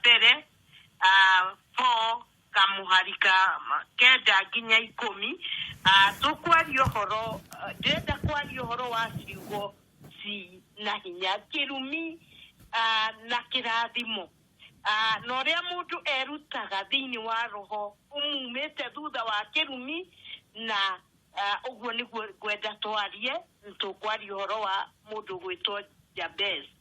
mbere ah, four kamuhari ka ma- kenda nginya ikũmi Ah, tũkwaria ũhoro ah, ndĩrenda kwaria ũhoro wa ciugo ci na hinya kĩrumi ah, na kĩrathimo Ah, na ũrĩa mũndũ erutaga thĩinĩ wa roho ũmumĩte thutha wa kĩrumi na ah, ũguo nĩguo ngwenda twarie tũkwaria ũhoro wa mũndũ gwĩtwo jabez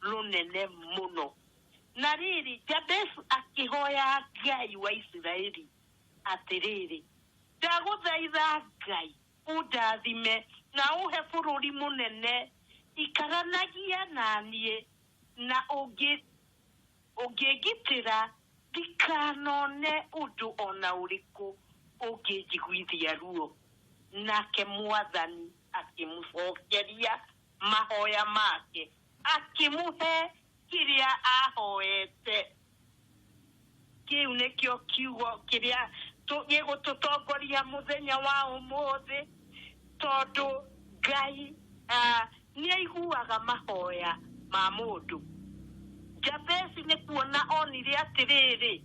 rũnene mũno. Na rĩrĩ, Jabeshi akĩhoya Ngai wa Isiraeli atĩrĩrĩ, Ndagũthaitha Ngai, ũndathime na ũhe bũrũri mũnene, ikaranagia na niĩ, na ũngĩ, ũngĩngitĩra ndikanone ũndũ o na ũrĩkũ ũngĩnjiguithia ruo. Nake mwathani akĩmũcokeria mahoya make, akĩmũhe kĩrĩa ahoete. Kĩu nĩkĩo kiugo kĩrĩa tũ- gĩgũtũtongoria mũthenya wa ũmũthĩ, tondũ Ngai ah, nĩ aiguaga mahoya ma mũndũ. Jabesi nĩ kuona onire atĩrĩrĩ,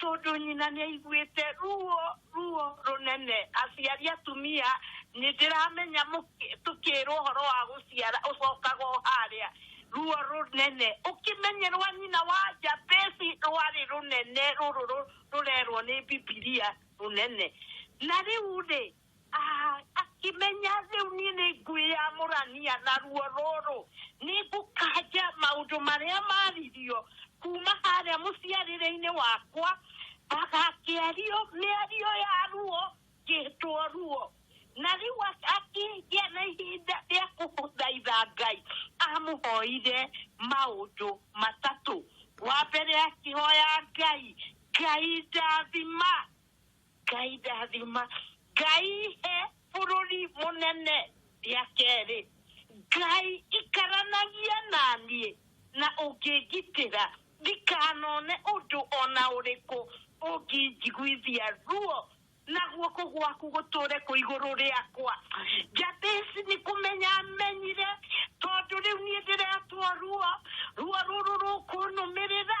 Tondũ nyina nĩ aiguĩte ruo, ruo rũnene. Aciari atumia nĩ ndĩramenya tũkĩrwo ũhoro wa gũciara ũcokaga o harĩa, ruo rũnene. Ũkĩmenye rwa nyina wa Jabesi rwarĩ rũnene rũrũ rũrerwo nĩ Bibilia rũnene. Na rĩu rĩ, Ah, akĩmenya rĩu niĩ nĩ ngwĩyamũrania na ruo rũrũ nĩ ngũkanja maũndũ marĩa maririo kuma harĩa mũciarĩre-inĩ wakwa agakĩario mĩario ya ruo ngĩtwo ruo na rĩu ak- akĩgĩa na ihinda rĩa kũthaitha ngai amũhoire maũndũ matatũ wa mbere akĩhoya ngai ngai ndathima ngai ndathima ngai he bũrũri mũnene rĩa kerĩ ngai ikaranagia naniĩ na ũngĩngitĩra ndikanone ũndũ ona ũrĩkũ ũngĩnjiguithia ruo na guoko gwaku gũtũre kũ igũrũ rĩakwa jabesi nĩ kũmenya amenyire tondũ rĩu niĩ ndĩretwo ruo ruo rũrũ rũkũnũmĩrĩra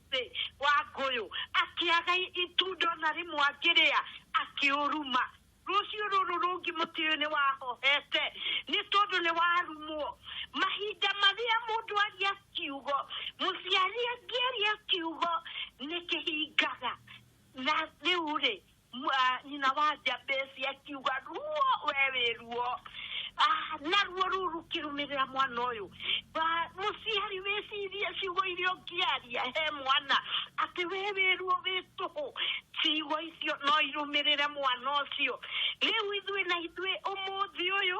mũtĩ wa ngũyũ, akĩaga itunda o na rĩmwe angĩrĩa, akĩũruma. Rũciũ rũrũ rũngĩ mũtĩ ũyũ nĩwahohete, nĩ tondũ nĩwarumwo. Mahinda marĩa mũndũ aria kiugo, mũciari angĩaria kiugo nĩkĩhingaga. Na rĩu-rĩ, Mwa- nyina wa njambĩci akiuga ruo we wĩ ruo Ah, na ruo rũu rũkĩrũmĩrĩra mwana ũyũ Ba- mũciari wĩcirie ciugo iria ũngĩaria he mwana atĩ we wĩ ruo wĩ tũhũ ciugo icio no irũmĩrĩre mwana ũcio rĩu ithuĩ na ithuĩ ũmũthĩ ũyũ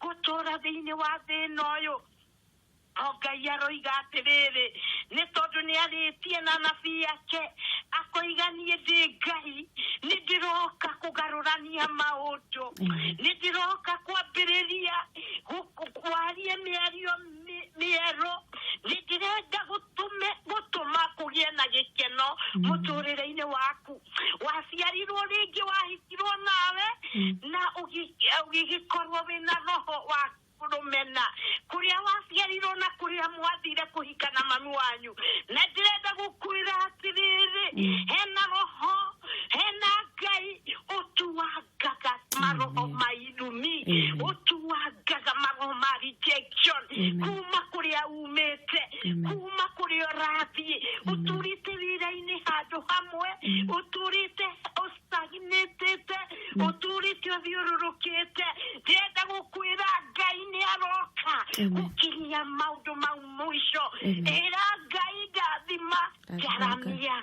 gũtũũra thĩinĩ wa thĩ ĩno ũyũ o ngai aroiga atĩrĩrĩ nĩ tondũ nĩ arĩtie na nabii yake akoiga niĩ ndĩ ngai nĩ ndĩroka kũgarũrania maũndũ nĩ ndĩroka kwambĩrĩria gũ- kwaria mĩario mi- mĩerũ nĩndĩrenda gũtume gũtũma kũgĩe na gĩkeno mũtũrĩre-inĩ waku waciarirwo rĩngĩ wahitirwo nawe na ũgi- ũgĩgĩkorwo wĩna roho wa rũmena kũrĩa waciarirwo na kũrĩa mwathire kũhika na mami wanyu na ndĩrenda gũkwĩra atĩrĩrĩ hena roho hena ngai ũtu wa gaga maroho ma irumi Amen. ũtuangaga maroho ma rejection Amen. kuma kũrĩa umĩte Amen. kuma kũrĩa ũrathiĩ ũtũrĩte wĩra-inĩ handũ hamwe ũtũrĩte ũstagnĩtĩte ũtũrĩte ũthiũrũrũkĩte ndĩrenda gũkwĩra ngai nĩ aroka Amen. gũkinyia maũndũ mau mũico Amen. ĩra ngai ndathima Amen. jaramia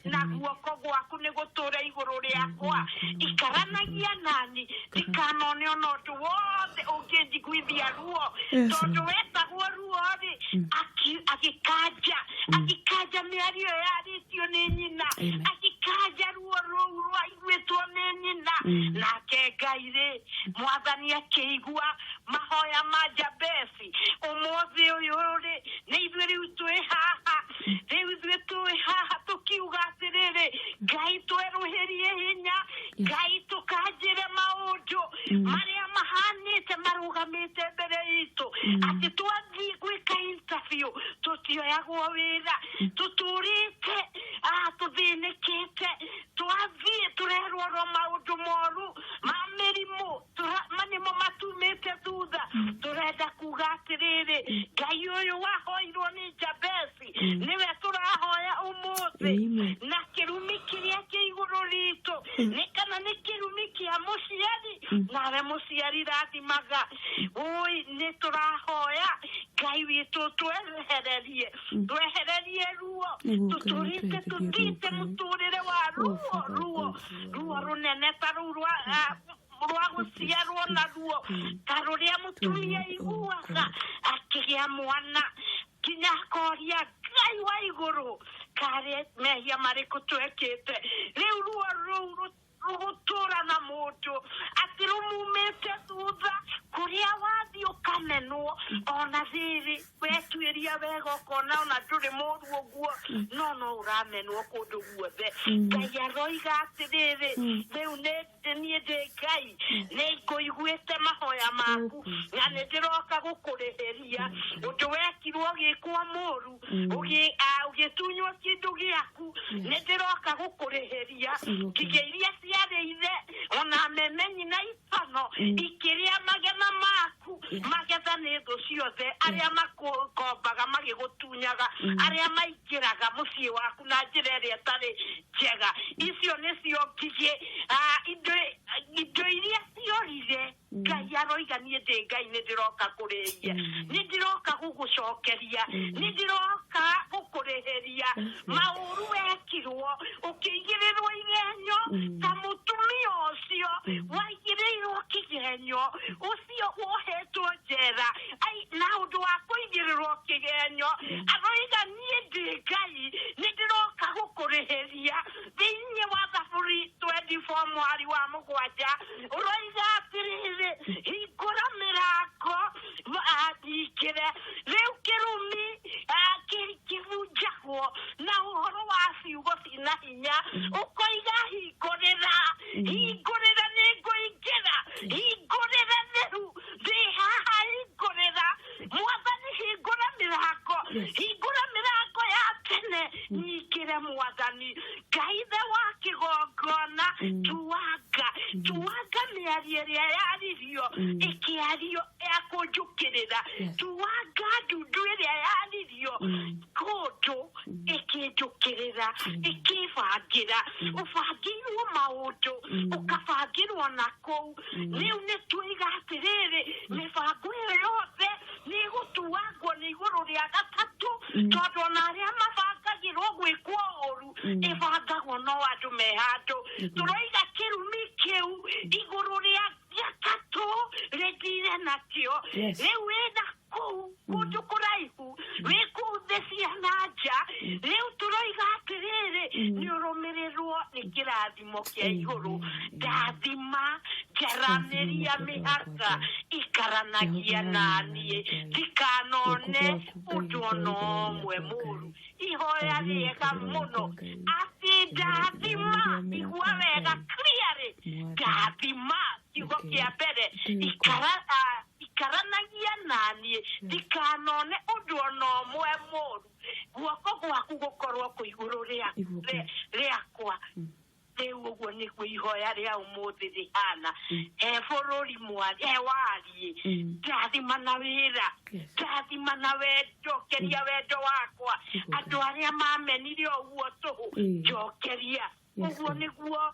na guoko gwaku nĩ gũtũũra igũrũ rĩakwa ikaranagia nani ndikanone ona ũndũ wothe ũngĩnjiguithia ruo Yes, tondũ Lord. wetagwo ruo-rĩ aki- agĩkanja agĩkanja mĩario ĩyo yarĩtio nĩ nyina Amen. agĩkanja ruo rũu rwaiguĩtwo nĩ nyina nake ngai-rĩ mwathani akĩigua mahoya ma jabes mũthamaki ũmũthĩ ũyũ rĩ nĩ ithuĩ rĩu twĩ haha rĩu ithuĩ twĩ haha tũkiuga atĩrĩrĩ ngai twerũhĩrie hinya ngai tũkanjĩre maũndũ marĩa mahanĩte marũgamĩte mbere itũ atĩ twathiĩ gwĩka interview tũtioyagwo wĩra tũtũrĩte ah, tũthĩnĩkĩte twathiĩ tũrerorwo maũndũ moru ma mĩrimũ tũrama nĩ mo matumĩte thutha tũrenda kuga atĩrĩrĩ ngai ũyũ wahoirwo nĩ jabesi nĩwe tũrahoya ũmũthĩ Amen. na kĩrumi kĩrĩa kĩ igũrũ ritũ nĩ kana nĩ kĩrumi kĩa mũciari nawe mũciari rathimaga ũi nĩ tũrahoya ngai witũ twehererie twehererie ruo Nĩguo tũtũrĩte Ngai atwehererie tũtite ruo. mũtũrĩre wa Oh, ruo Father, ruo thank you. ruo rũnene ta rũu rwa ah, rwa gũciarwo naruo ta rũrĩa mũtumia aiguaga akĩgĩa mwana nginya akoria ngai wa igũrũ karĩ mehia marĩkũ twekĩte rĩu ruo rũu rũ- rũgũtũra na mũndũ atĩ rũmumĩte thutha kũrĩa wathiĩ ũkamenwo ona thirĩ wetuĩria wega ũkona ona ndũrĩ mũru ũguo no no ũramenwo kũndũ guothe ngai aroiga atĩrĩrĩ rĩu nĩ atĩ niĩ ndĩ ngai nĩ ngũiguĩte mahoya maku na nĩ ndĩroka gũkũrĩhĩria ũndũ wekirwo ũgĩkwo mũru ũgĩ- ah, ũgĩtunywo kĩndũ gĩaku nĩ ndĩroka gũkũrĩhĩria ngigĩ iria ciarĩ ithe ona memenyi na itono ikĩrĩa magetha maku magetha nĩ thũ ciothe arĩa makũkombaga magĩgũtunyaga arĩa mai njĩraga mũciĩ waku na njĩra ĩrĩa ĩtarĩ njega icio nĩcio ngigĩ ah, indo indo iria ciorire ngai aroiga niĩ ndĩ ngai nĩ ndĩroka kũrĩithia nĩ ndĩroka gũgũcokeria nĩ ndĩroka gũkũrĩhĩria maũru wekirwo ũkĩigĩrĩrwo igenyo ta mũtumia ũcio waigĩrĩirwo kĩgenyo ũcio wohetwo njera ai na ũndũ wa kũigĩrĩrwo kĩgenyo aroiga niĩ ndĩ ngai nĩ ndĩroka gũkũrĩhĩria thĩinĩ wa thaburi 24 mwari wa mũgwanja ũroiga atĩrĩrĩ hingũra mĩrango ah, ndingĩre rĩu kĩrumi ah, kĩ- kĩbunjagwo na ũhoro wa ciugo cina hinya hinya ũkoiga hingũrĩra hingũrĩra nĩ ngũingĩra hingũrĩra nĩhu ndĩ haha hingũrĩra mwathani hingũra mĩrango hingũra mĩrango ya tene nyingĩre mwathani ngai ithe wa kĩgongona tuanga tuanga mĩario ĩrĩa yaririo ĩkĩario ya kũnjũkĩrĩra tuanga ndundu ĩrĩa yaririo kũndũ ĩkĩnjũkĩrĩra ĩkĩbangĩra ũbangĩirwo maũndũ ũkabangĩrwo na kũu rĩu nĩ tuiga atĩrĩrĩ mĩbango ĩyo yothe nĩ ĩgũtuangwo nĩ igũrũ rĩa gatatũ tondũ ona arĩa mabangagĩrwo gwĩkwo ũru ĩbangagwo no andũ me handũ tũroiga kĩrumi kĩu igũrũ rĩa gatatũ rĩthire nakĩo Yes. rĩu wĩna kũu kũndũ kũraihu wĩ kũu thĩ cia na nja rĩu tũroiga atĩrĩrĩ nĩ ũrũmĩrĩrwo nĩ kĩrathimo kĩa igũrũ ndathima njaranĩria mĩhaka ikaranagia naniĩ ndikanone ũndũ ona ũmwe mũru ihoya rĩega mũno atĩ ndathima igua wega clearly ndathima kiugo kĩa mbere ikara ah, ikaranagia naniĩ ndikanone ũndũ ona ũmwe mũru guoko gwaku gũkorwo kũ igũrũ rĩa- Igũrũ. rĩa- rĩakwa rĩu ũguo nĩguo ihoya rĩa ũmũthĩ rĩhana he bũrũri mwa- he wariĩ Mm. ndathima na wĩra Yes. ndathima na wendo keria wendo wakwa Igũrũ. andũ arĩa mamenire ũguo tũhũ Mm. njokeria Yes, ũguo Lord. nĩguo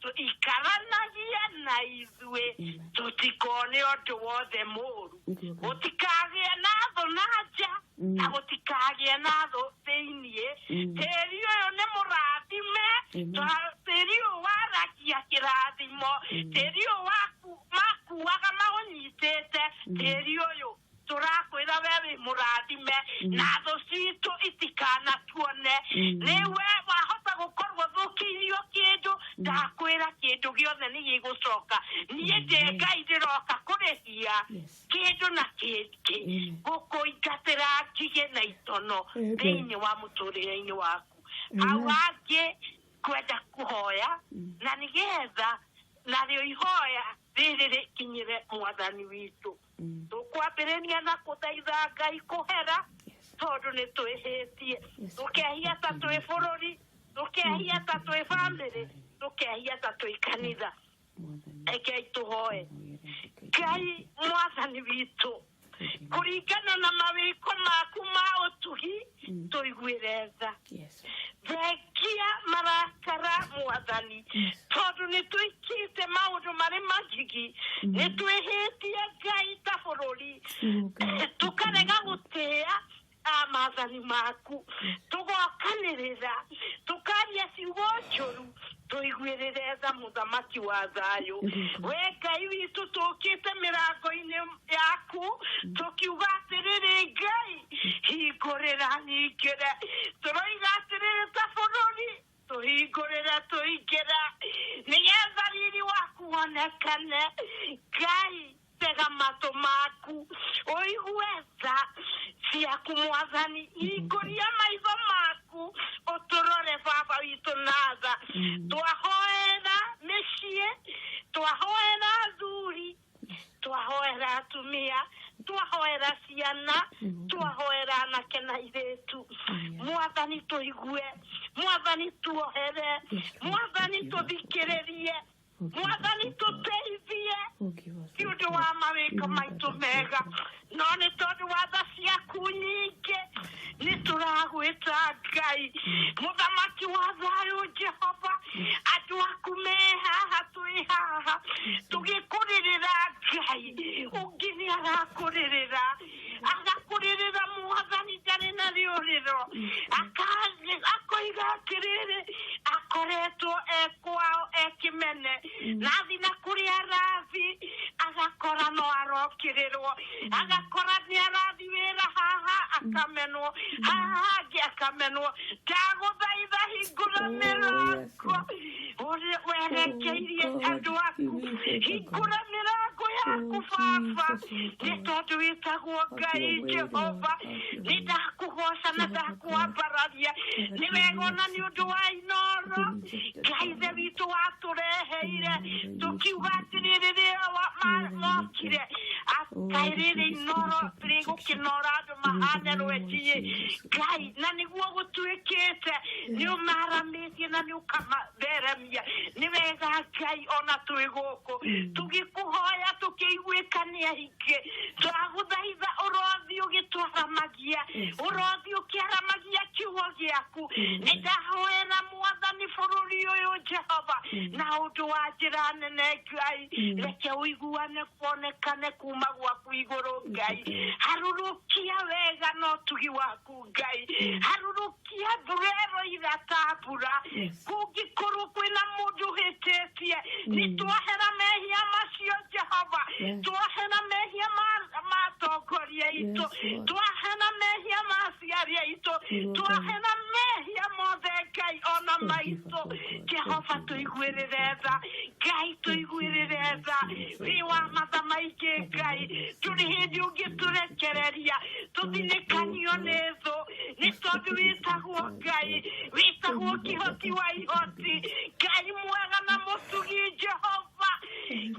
tũikaranagie na ithuĩ tũtikone ũndũ wothe mũru gũtikagĩe na thũ na nja mm. na gũtikagĩe na thũ thĩiniĩ mm. tĩri ũyũ nĩ mũrathime tĩri ũyũ waragia kĩrathimo mm. tĩri ũyũ makuaga maũnyitĩte tĩri ũyũ tũrakwĩra we wĩ mũrathime na thũ citũ itikanatuone nĩwe wahota gũkorwo thũkĩirio kĩndũ ndakwĩra kĩndũ gĩothe nĩ gĩgũcoka niĩ ndĩ ngai ndĩroka kũrĩhia kĩndũ na kĩngĩ gũkũingatĩra ngigĩ na itono Amen. thĩinĩ wa mũtũrĩre-inĩ waku hau angĩ kwenda kũhoya na nĩgetha narĩo ihoya rĩrĩ rĩkinyĩre mwathani witũ tũkwambĩrĩria na kũthaitha ngai kũhera tondũ nĩ twĩhĩtie tũkehia ta twĩ bũrũri tũkehia ta twĩ bamĩrĩ tũkehia ta twĩ kanitha rekei tũhoe ngai mwathani witũ kũringana na mawĩko maku ma ũtugi tũiguĩre tha thengia marakara mwathani tondũ nĩ twĩkĩte maũndũ marĩ magigi nĩ twĩhĩtie ngai ta bũrũri tũkarega gũtĩa amathani maku tũgokanĩrĩra tũkaria ciugo njũru tũiguĩrĩre tha mũthamaki wa thayũ we ngai witũ tũkĩte mĩrango-inĩ yaku tũkiuga atĩrĩrĩ ngai hingũrĩra nyingĩre tũroiga atĩrĩrĩ ta bũrũri tũhingũrĩre tũingĩre nĩgetha riri waku wonekane ngai tega matũ maku ũigue tha ciaku mwathani hingũria maitho maku ũtũrore baba witũ na tha twahoera mĩciĩ twahoera athuri twahoera atumia twahoera ciana twahoera anake na irĩtu mwathani tũigue mwathani tuohere mwathani tũthikĩrĩrie mwathani tũteithie nĩ ũndũ wa mawĩko maitũ mega no nĩ tondũ wa tha ciaku nyingĩ nĩ tũragwĩta ngai mũthamaki wa thayũ jehova andũ aku me haha twĩ haha tũgĩkũrĩrĩra ngai ũngĩ nĩ arakũrĩrĩra agakurĩrĩra mwathani ndarĩ na rĩũrĩro Aka- akoiga atĩrĩrĩ akoretwo e kwao e kĩmene na athi na kũrĩa arathi agakora no arokĩrĩrwo agakora nĩ arathi wĩra haha akamenwo haha hangĩ akamenwo ndagũthaitha hingũra Oh, yes, mĩrango ũrĩa werekeirie andũ aku hingũra mĩrango yaku baba nĩ tondũ wĩtagwo ngai jehova nĩ ndakũgoca na ndakwambararia nĩ wega ona nĩ ũndũ wa inoro ngai ithe witũ watũreheire tũkiuga atĩrĩ rĩrĩa wa- ma- mokire atĩ rĩrĩ inoro rĩgũkĩnora andũ mahane rwenjiĩ ngai na nĩguo gũtuĩkĩte nĩ ũmara tũtambĩtie na nĩ ũkamatheremia nĩ wega ngai ona twĩ gũkũ tũgĩkũhoya tũkĩiguĩkania ingĩ twagũthaitha ũrothi ũgĩtwaramagia ũrothi ũkĩaramagia kiugo gĩaku nĩ ndahoera mwathani bũrũri ũyũ jehova na ũndũ wa njĩra nene ngai reke ũiguane kuonekane kuma gwaku igũrũ ngai harũrũkia wega na ũtugi waku ngai harurukia mbura ĩroira ta mbura kũngĩkorwo kwĩna mũndũ ũhĩtĩtie nĩ twahera mehia macio jehova twahera mehia ma- ma atongoria aitũ twahera mehia ma aciari aitũ twahera mehia mothe ngai ona maitũ jehova tũiguĩrĩre tha ngai tũiguĩrĩre tha wĩ wa matha maingĩ ngai tũrĩ hĩndĩ ũngĩtũrekereria tũthinĩkanio nĩ thũ nĩ tondũ wĩtagwo ngai wĩtagwo kĩhoti wa ihoti ngai mwega na mũtugi jehova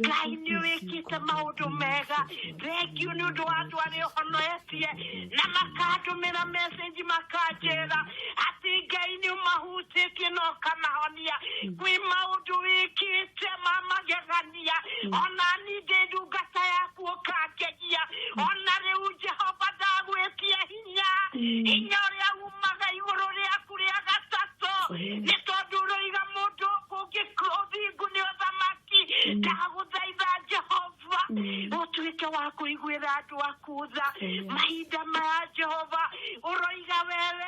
ngai nĩ wĩkĩte maũndũ mega thengiũ nĩ ũndũ wa andũ arĩa ũhonoetie na makandũmĩra mecenji makanjĩra atĩ ngai nĩ ũmahutĩtie na ũkamahonia kwĩ maũndũ wĩkĩte ma magegania ũkĩnjĩtĩkĩria ona ningĩ ndungata yaku ũkangegia ona rĩu jehova ndagwĩtia hinya hinya ũrĩa umaga igũrũ rĩaku rĩa gatatũ nĩ tondũ ũroiga mũndũ ũthingu nĩ ũthamaki ndagũthaitha jehova ũtuĩke wa kũiguĩra andũ aku tha mahinda maya jehova ũroiga wewe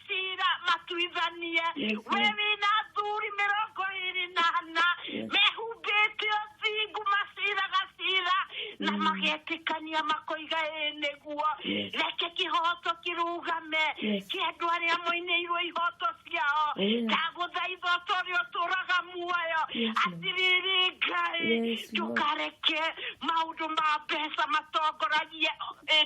kira matuithanie we wina athuri mĩrongo ĩrĩ na ana mehumbĩte ũthingu maciraga cira na magetĩkania makoiga ĩ nĩguo reke kĩhoto kĩrũgame kĩa andũ arĩa moinĩirwo ihoto ciao ndagũthaitha ũta ũrĩa ũtũraga muoyo atĩrĩrĩ ngai ndũkareke maũndũ ma mbeca matongoragie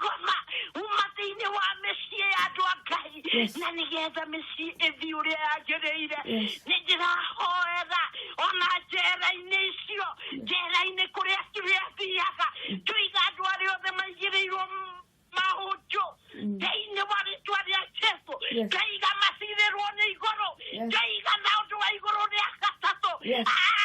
ngoma uma thĩinĩ wa mĩciĩ ya andũ a ngai Yes. na nĩgetha mĩciĩ ĩthiĩ ũrĩa yagĩrĩire Yes. nĩ ndĩrahoera ona njera-inĩ icio njera-inĩ kũrĩa kĩrĩa thiaga tũiga andũ arĩa othe maigĩrĩirwo m- mahunjũ thĩinĩ wa rĩtwa rĩa jesu Yes. tũiga macirĩrwo nĩ igũrũ Yes. tũiga na ũndũ wa igũrũ rĩa gatatũ Yes. Ah,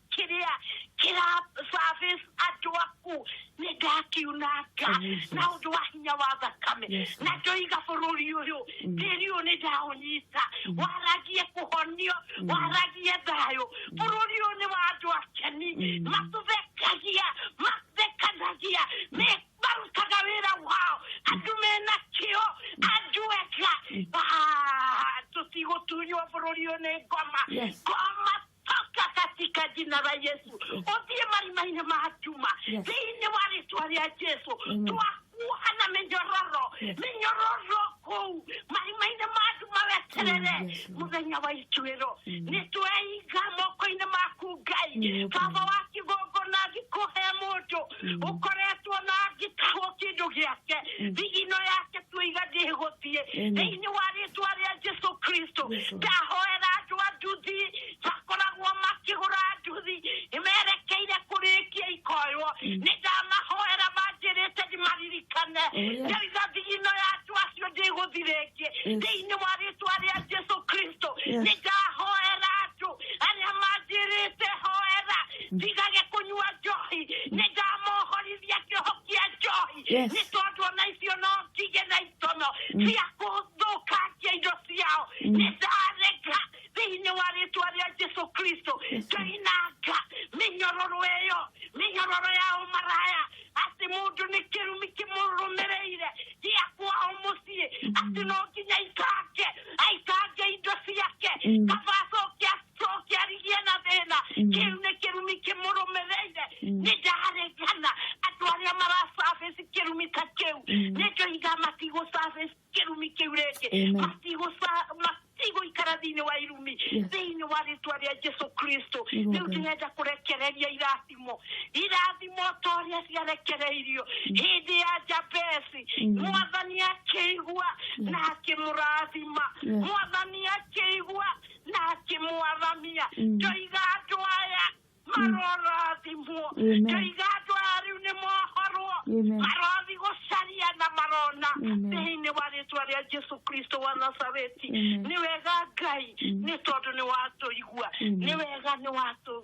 kĩrĩa kĩrasabĩci andũ aku nĩ ndakiunanga Jesus. na ũndũ wa hinya wa thakame Yes, na ndoiga bũrũri ũyũ tĩri ũyũ nĩ ndaũnyita waragie kũhonio waragie thayũ bũrũri ũyũ nĩ wa andũ akeni matũthekagia mathekanagia me- marutaga wĩra wao andũ mena kĩo andũ ega Ah, tũtigũtunywo bũrũri ũyũ nĩ ngoma Yes. ngoma toka katika jina la Yesu othie marimaine mahatuma Yes. thiini wa rĩtwa rĩa Jesu Amen. twakuoha na mĩnyororo Yes. mĩnyororo kũu marimaine ma andũ maweterere Amen. Yes, Lord. mũthenya wa ituĩro Amen. nĩ tweiga moko-inĩ maku ngai Yes, baba Lord. wa kĩgongona thikũhe mũndũ ũkoretwo na ngĩkagwo kĩndũ gĩake thigino yake tuiga ndĩgũthiĩ thĩinĩ wa rĩtwa rĩa jesu kristo ndahoera andũ a nduthi makoragwo makĩgũra nduthi nĩmerekeire kũrĩkia ikoywo nĩ ndamahoera manjĩrĩte ndimaririkane ndoiga thigino yatu acio ndĩgũthi rĩngĩ thĩinĩ wa rĩtwa rĩa jesu kristo nĩ ndahoera andũ arĩa manjĩrĩte hoera ndigage kũnyua njohi nĩ ndamohorithia kĩoho kĩa njohi Yes. nĩ tondũ ona icio no ndige na itono cia gũthũkangia indo ciao nĩ ndareka thĩinĩ wa rĩtwa rĩa jesu kristo ngainanga mĩnyororo ĩyo mĩnyororo ya ũmaraya atĩ mũndũ nĩ kĩrumi kĩmũrũmĩrĩire gĩa kwao mũciĩ atĩ no nginya aikange aikange indo ciake kaba acoke cokiarigia na thĩna kĩu nĩ kĩrumi kĩmũrũmĩrĩire nĩ ndaregana andũ arĩa maracabici kĩrumi ta kĩu nĩ ndoiga matigũcabici kĩrumi kĩu rĩngĩ Amen. Matigũca- matigũikara thĩinĩ wa irumi thĩinĩ wa rĩtwa rĩa jesu kristo rĩu Amen. ndĩrenda kũrekereria irathimo irathimo ta ũrĩa ciarekereirio hĩndĩ ya jabesi mwathani akĩigua na akĩmũrathima Yes. mwathani akĩigua na akĩmwathamia ndoiga andũ aya marorathimwo Amen. ndoiga andũ aya rĩu nĩ mohorwo Amen. marothi gũcaria na marona Amen. thĩinĩ wa rĩtwa rĩa jesu kristo wa nazareti Amen. nĩ wega ngai nĩ tondũ nĩ watũigua Amen. nĩ wega nĩ watũ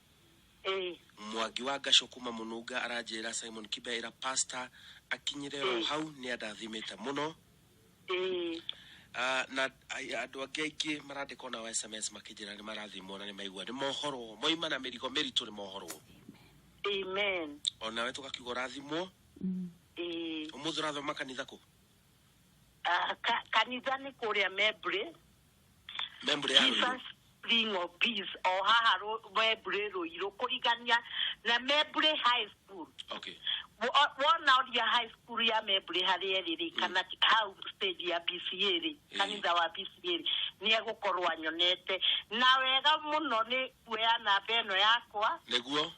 ĩĩ mwangi wa ngacũ kuma mũnunga aranjĩra simon kibeira pasta akinyire o hau nĩ andathimĩte mũno ĩĩ Ah, na ai- andũ angĩ aingĩ marandĩka ona wa sms makĩnjĩra nĩ marathimwo na nĩ maigua nĩ mohorwo moima na mĩrigo mĩritũ nĩ mohorwo amen onawe tũgakiuga ũrathimwo ĩĩ ũmũthĩ ũrathoma kanitha kũ Ah, ka- kanitha nĩ kũrĩa membry Membũrĩ ya Rũirũ. Jesus Ring of Peace o haha Rũ- Wembley Rũirũ kũringania na Wembley High School Okay. Wo- wona oria high school ya Wembley harĩa ĩrĩ rĩ kana hau stage ya BCA rĩ Mm. kanitha wa BCA rĩ nĩ egũkorwo anyonete na wega mũno nĩ kuoya namba ĩno yakwa Nĩguo.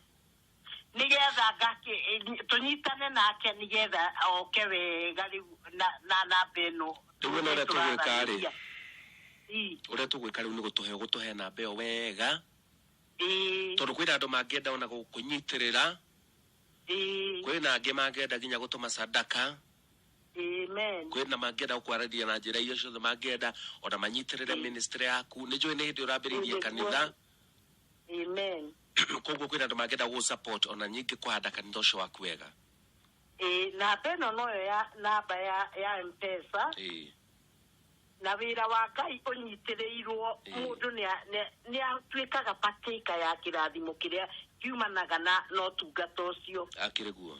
nĩgetha ngakĩ- tũnyitane nake nĩgetha oke wega rĩu na na namba ĩno Rĩu wĩna ũrĩa tũgwĩka rĩ? Ii, ũrĩa tũgwĩka rĩu nĩ gũtũhe gũtũhe namba ĩyo wega ii, tondũ kwĩna andũ mangĩenda ona gũkũnyitĩrĩra ii, kwĩna angĩ mangĩenda nginya gũtũma sadaka amen. kwĩna mangĩenda gũkwarĩria na njĩra iria ciothe mangĩenda ona manyitĩrĩre ministry yaku nĩ njũĩ nĩ hĩndĩ ũrambĩrĩirie kanitha Amen. koguo kwĩna andũ mangĩenda gũ support ona nyingĩ kũhanda kanitha ũcio waku wega Ĩĩ, namba ĩno noyo ya namba ya ya mpesa Ĩĩ. na wĩra wa ngai ũnyitĩrĩirwo Ĩĩ. mũndũ nĩa- nĩa- nĩatuĩkaga patĩka ya kĩrathimo kĩrĩa kiumanaga na na ũtungata ũcio akĩrĩ guo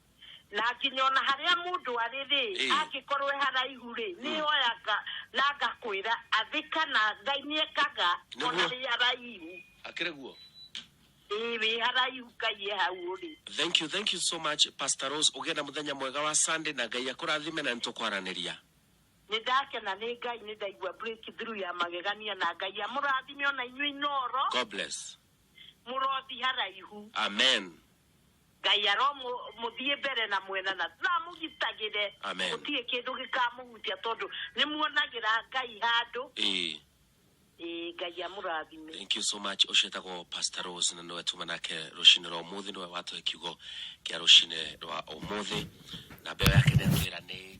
na nginya ona harĩa mũndũ arĩ-rĩ Ĩĩ. angĩkorwo e haraihu-rĩ nĩoyaga na ngakwĩra athĩka na ngai nĩekaga ona Nĩguo. wĩ haraihu akĩrĩ guo ĩĩ wĩ haraihu ngai e hau ũrĩ thank you thank you so much pastor rose ũgĩe na mũthenya mwega wa sunday na ngai akũrathime na nĩtũkwaranĩria nĩndakena nĩ ngai nĩndaigua breakthrough ya magegania na ngai amũrathime ona inyuĩ inoro god bless mũrothi haraihu amen Ngai aromũthiĩ mbere na mwena na amũgitagĩre. Amen. Gũtirĩ kĩndũ gĩkamũhutia tondũ nĩ muonagĩra Ngai handũ. Ĩĩ. Ĩĩ Ngai amũrathime. Thank you so much. Ũcio etagwo Pastor Rose na nĩwe tuma nake rũcinĩ rwa ũmũthĩ nĩwe watũhe kiugo kĩa rũcinĩ rwa ũmũthĩ na mbeo yake nĩ atwĩra nĩ